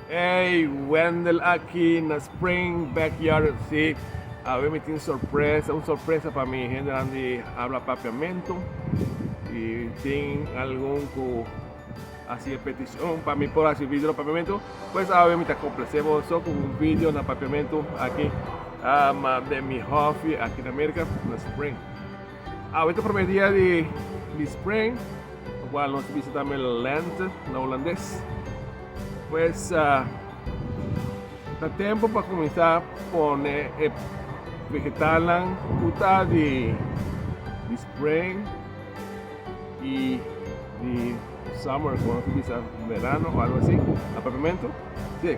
Ey Wendel aki na Spring Backyard si awe mi tin sorpresa un sorpresa pa mi hendenan di habla papiamento y tin algun cu hasi e peticion pa mi por hasi video na papiamento pues awe mi ta complece boso cu un video na papiamento aki den mi hoffi aki na America na Spring. Awe ta prome dia di di spring kual nos bisita tambe lente na Hulandes. Pues ta tempo pa kuminsá pone e vegetalnan ku ta di di spring i di summer ku nos bisa verano o algo asi, apartamentu. Si.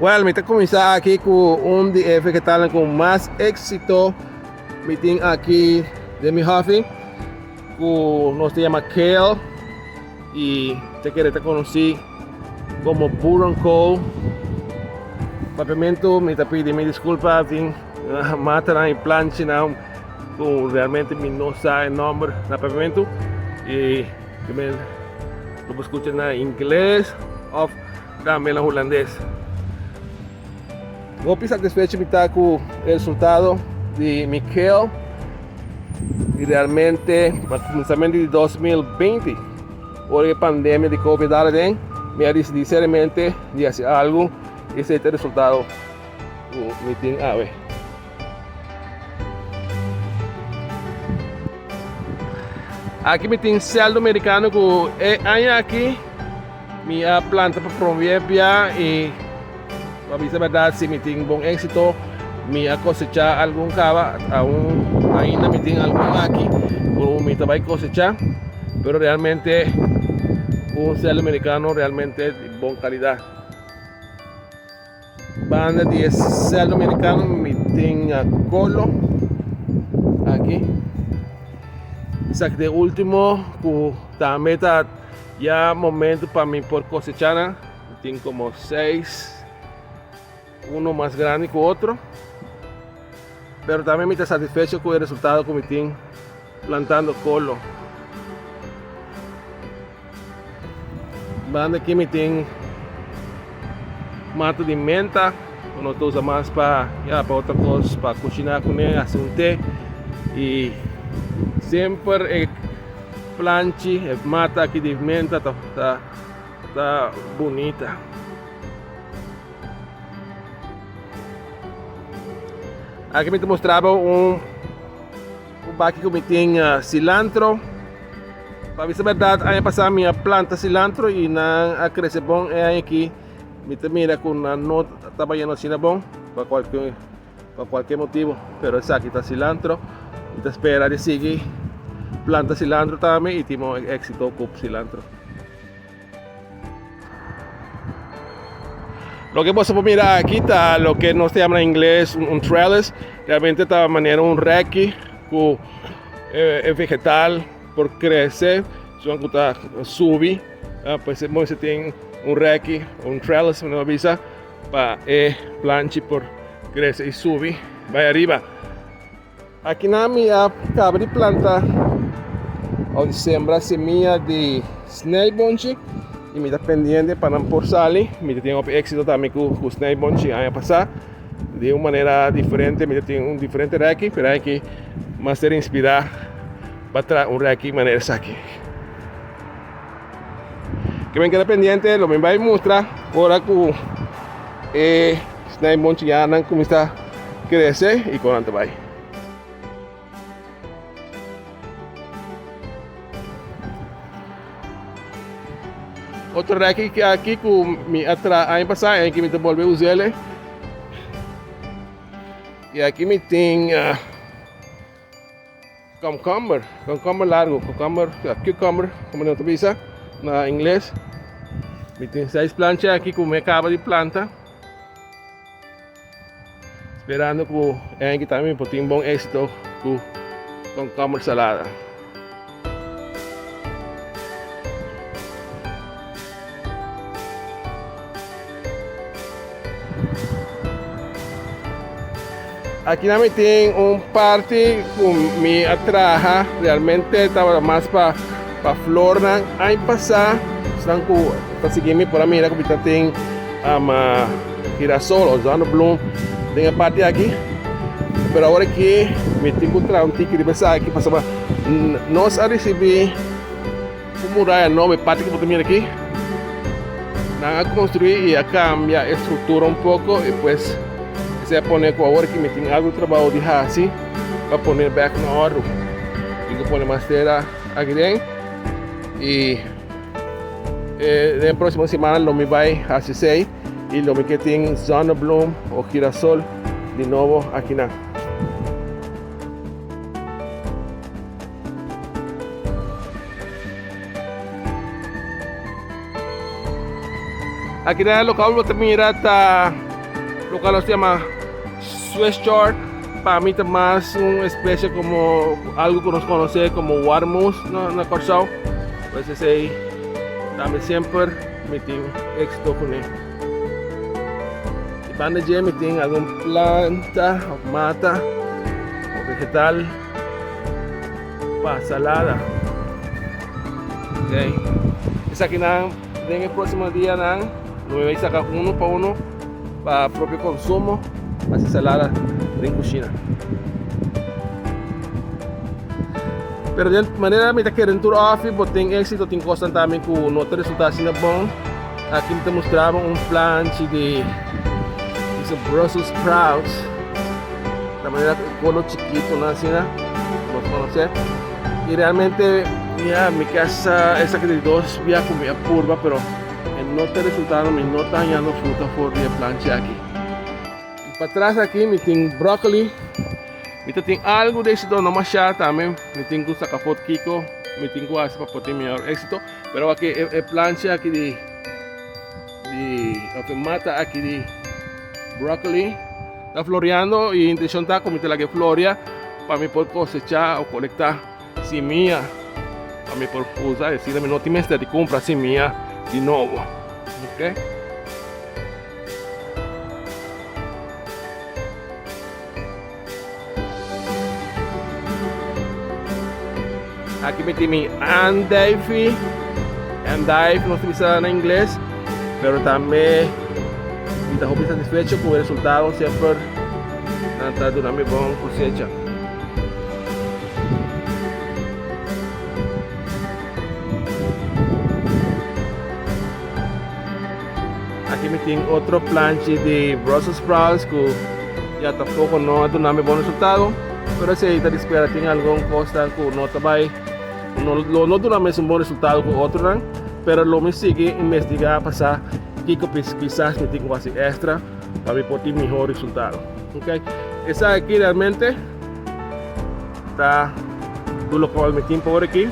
Well, mi ta cuminsa aki cu un di e vegetalen cu mas exito mi tin aki den mi hofi, cu nos ta yama kale y te kere ta conoci como boerenkool. Papiamento mi ta pidi mi disculpa tin matanan y planchinan cu realmente mi no sa e nomber na papiamento y. Primer lo bo scucha na ingles of tambe na hulandes. Hopi satisfecho mi ta cu el resultado di Mikel. Y realmente na comenzamento di 2020, ora e pandemia di COVID dala den, mi a decidi seriamente di haci algo y sete resultado cu mi tin awe. Aki mi tin sèldo merikano ku e aña aki mi a planta pa promé bia i pa bisa bèrdat si mi tin bon éksito mi a kosechá algun kaba, aun ainda mi tin algun aki ku mi ta bai kosechá pero realmente un sèldo merikano realmente di bon kalidat. Banda di e sèl dominikano mi tin a Colo aki. Esaki ta e último ku tambe ta ya momento pa mi por kosechá nan. Mi tin komo seis, uno mas grandi ku otro. Pero tambe mi ta satisfecho ku e resultado ku mi tin plantando Colo. Banda ki mi tin mata di menta, cu nos ta usa mas pa, ya, pa otra cos, pa cushina cu ne, haci un te. Y semper e planchi, e mata aki di menta ta, ta, ta bunita. Aki mi ta mostraba un. Un baki cu mi tin cilantro. Pa bisa berdad aña pasa mi a planta cilantro y nan a crece bon. E aña aki mi ta mira cu nan no ta bayendo asina bon pa cualkier motibo. Pero esaki ta cilantro. Mi ta spera di sigui planta cilantro tambe y tin bon e exito cu cilantro. Loke boso por mira aki ta loke nos ta yama na ingles un trellis. Realmente ta manera un reki ku e vegetal por krese zodat ku ta subi. Pues e moe si tin un reki o un trellis manera bo bisa pa e planchi por krese i subi bai ariba. Aki nan mi a kaba di planta o di sembra semia di snijbonchi y mi ta pendiente pa nan por sali. Mi ta tin hopi éxito tambe cu cu snijbonchi aña pasá. De un manera diferente mi ta tin un diferente reki, pero aki master inspirá pa traha un reki manera esaki. Ke men keda pendiente lo men bai mustra ora ku e snai bonchianan kuminsá krese i kon nan ta bai. Otro reki ke aki ku mi a tra aña pasá en ki mi ta bolbe usele. I aki mi tin ah, Komkomber, komkomber largo, komkomber, ya, cucumber, como nan ta bisa na ingles. Mi tin seis plancha aki ku mi a kaba di planta. Sperando ku e aña ki ta mi por tin bon éksito ku komkomber salada. Akinan mi tin un parti ku mi a traha, realmente tabata mas pa pa flornan. Aña pasá, esnan ku ta sigui mi por a mira ku mi ta tin um girasol o zonnebloem den e parti aki. Pero awor aki mi tin ku traha un tiki riba esaki pasobra nos a risibí. Un muraya nobo e parti ku bo ta mira aki. Nan a konstruí i a kambia e struktura un poko i pues esei a pone ku awor ki mi tin algu trabou di hasi pa pone bèk na òrdu. Tin ku pone mas tera akiren i den e próksimo semana lo mi bai hasi esei i lo mi ke tin zonnebloem o girasol di nobo akinan. Aki den e lokal bo ta mira ta lokal nos ta yama Swiss chard, pa mi ta mas un especie como algo ku nos konosé como warmous na Kòrsou. Pues esei ta mi semper mi tin éksito kuné. Banda dje mi tin algun planta òf mata òf vegetal. pa salada okay esaki nan den e proximo dia nan lo bai saca uno pa uno pa propio consumo haci salada den cushina pero den manera mi ta kere tur offi bo tin exito tin cosnan tambe cu no ta resulta asina bon aki mi ta mostrabo un planchi di brussel sprouts ta manera cu e colo chikitonan asina, lo conoce. Y realmente, mira, mi que hasta esa que de dos via con mi apurba, pero el no te resultado, mi no tan yando fruta for de planche aquí. Y para atrás aquí, mi tin broccoli, mi te tin algo de éxito, no mashá también, mi tin cu saca foto kiko, mi tin cu hace para poder tin mejor éxito, pero aquí, e, e planche aquí de Di lo ke mata aki di broccoli ta floreando y intencion ta cu mi ta laga e floria pa mi por cosecha o colecta simia pa mi por usa y asina mi no tin mester di cumpra simia di nobo ok. Aki mi tin mi andijfi, endive nos ta bisa na ingles, pero tambe mi ta hopi satisfecho ku e resultado semper nan ta duna mi bon kosecha. Aki mi tin otro planchi di brussel sprouts ku ya ta poko no a duna mi bon resultado pero esei ta di spera tin algun kosnan ku no ta bai no lo no duna mesun bon resultado ku otronan pero lo mi sigui investigá pa sa kiko kisas mi tin ku hasi extra pa mi por tin mihó resultado ok esaki realmente ta dulokòl mi tin pa ora aki.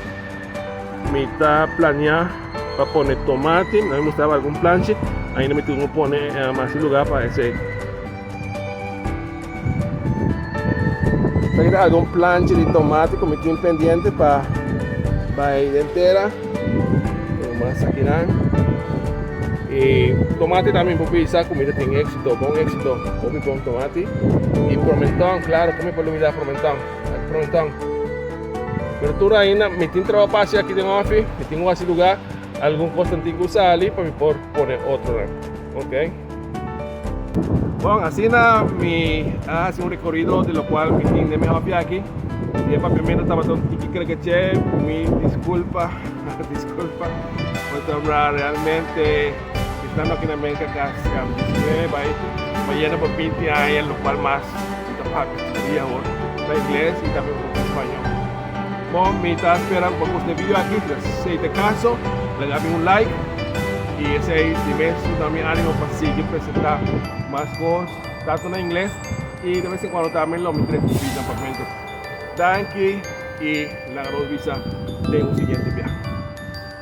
Mi ta plania pa pone tomate, nan mi mustraba algun planchi, ainda mi tin un pone eh, mas di lugar pa esey. Esaki ta algun planchi di tomate ku mi tin pendiente pa bai den tera, pero mas akinan. E tomate tambe mi por bisa ku mi ta tin éksito, bon éksito, hopi bon tomate. I promenton, klaro, kume por lubida promenton? Fronton. Pero tur ainda mi tin trabajo pa haci aki den ofi, mi tin wasi lugar, algun cosnan tin cu sa ali pa mi por pone otronan. Ok. Bon, asina mi a haci un recorrido di locual mi tin den mi ofi aki. Y e papiamento tabata un tiki crekeche, mi disculpa, disculpa, pasobra realmente. Esnan no kende men kaka skambi di skree bai pa yena pa binti aña, lokual mas mi ta papia di skree awor na ingles i tambe un poco di spañol. Bo mi ta spera cu bo cush n'e video aki, pues si ei ta caso laga mi un like i esei di mes lo ta mi animo pa sigui presenta mas cos tanto na ingles i de vez en cuando tambe lo mi trek un video na Pabmento. Danki i laga nos bisa den un siguiente biaha.